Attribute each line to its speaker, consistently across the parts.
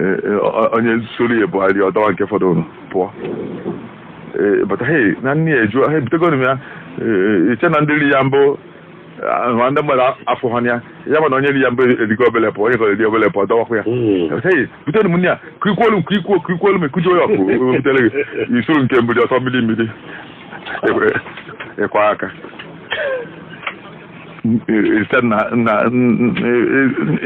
Speaker 1: Eh, eh, o- onye soro ya buharị ọ dọwa nke fọdụrụ pụọ Eh, but hey na nne ya ejuo ha ebutegoro m ya Eh, iche na ndị ri ya mbụ ah, ma ndị mmadụ afọ ha ya ya ma na onye ri ya mbụ erigo obele pụọ onye ka eri obele pụọ dọwakwa ya Mm. But hey butere m nne ya ka ikwuolu m ka ikwuo ka ikwuolu m ekujuo ya ọkụ o butere ji isuru nke mbụ dị ọtọ mmiri mmiri Ekwe- ekwe aka site na na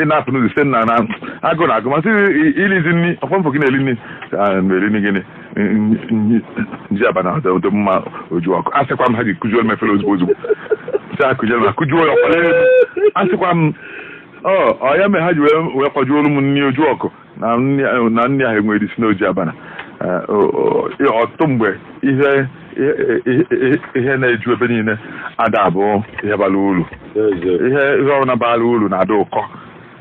Speaker 1: ị na-apụ n'ụzọ site na na agụụ na-agụ m asị ilizi nri ọkwa m fụ gị na-eli nri na-eli nri gịnị nji abana ọ dị mma oju ọkụ asịkwa m ha ji kụjuo m efere ozugbo ozugbo si akụjuo m akụjuo ya ọkwa asịkwa m ọ ya mere ha ji wee kwajuolu m nri oju ọkụ na nri ahụ na nri ahụ enwere isi n'ọ ji abana Eh, o- o- i- ọtụtụ mgbe ihe ihe- ihe- ihe na-eju ebe niile ada abụ ihe bara uru eze ihe ihe ọbụla bara uru na-ada ụkọ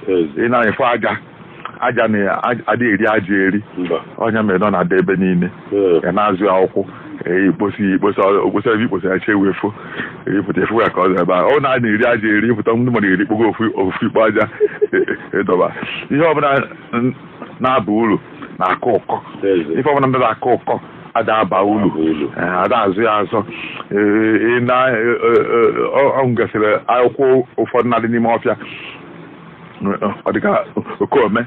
Speaker 1: eze ị na-afụ aja aja na ada eri aja eri mba ọ ya mere na ọ na-ada ebe niile a na-azọ ya ụkwụ ikposi ya ikposa okposa ebe ikposa ya chi wee fo ị pụta afụ ya ka ọ dị ebe a ọ na a na-eri aja eri ị pụta ndị mmadụ erikpogo ofu ofu ikpo aja ị dọba ihe ọbụla n- na-aba uru na-akọ ụkọ ife ọbụla na ada akọ ụkọ ada aba uru Eh, ada azọ ya azọ Eh, ị na eh, eh, eh, ọ o nwegasịrị akwụkwọ ụfọdụ na-adị n'ime ọfịa ọ dịka okeome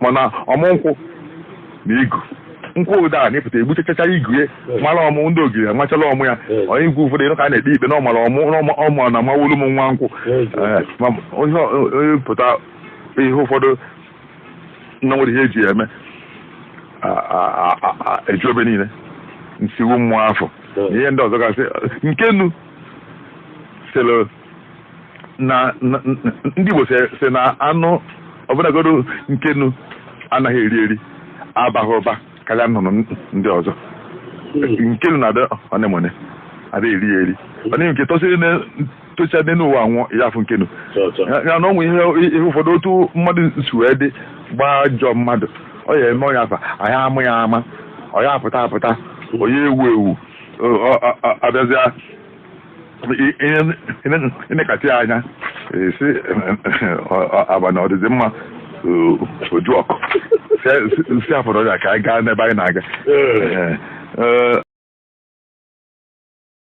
Speaker 1: mana ọmụ nkwụ na igu nkwụ ụda a na-apụta egbuchachacha igu ya mara ọmụ ndị ogiri amachala ọmụ ya onye igwe ụfọdụ ị nụ ka a na-ekpe ikpe na ọ mara ọmụ n'ọma- ọmụ na amawolu m nwa nkwụ Eh, ma onye ọ- onye pụta ihe ụfọdụ na nwere ihe eji ya eme a- a- a- a- a- eju ebe niile nsiwu mmụọ afọ na ihe ndị ọzọ gasị nkenu sịrị na na- na- ndị Igbo sị sị na anụ ọbụnagodu nkenu anaghị eri eri abaghị ụba karịa nnụnụ ndị ọzọ nkenu na-adị ọnemone ada eri ya eri ọ dịghị nke tosiri na tocha dị n'ụwa anwụọ ya afụ nkenu ya ya na ọnwụ ihe ihe ụfọdụ otu mmadụ si wee dị gbaa ajọ mmadụ ọ ya eme onye afa anyị amụ ya ama ọ ya apụta apụta ọ ya ewu ewu ọ- ọ- ọ- abịazịa ị nekatịa anya sị abana ọ dịdị mma oju ọkụ si afọrọ ya ka anyị gaa n'ebe anyị na-aga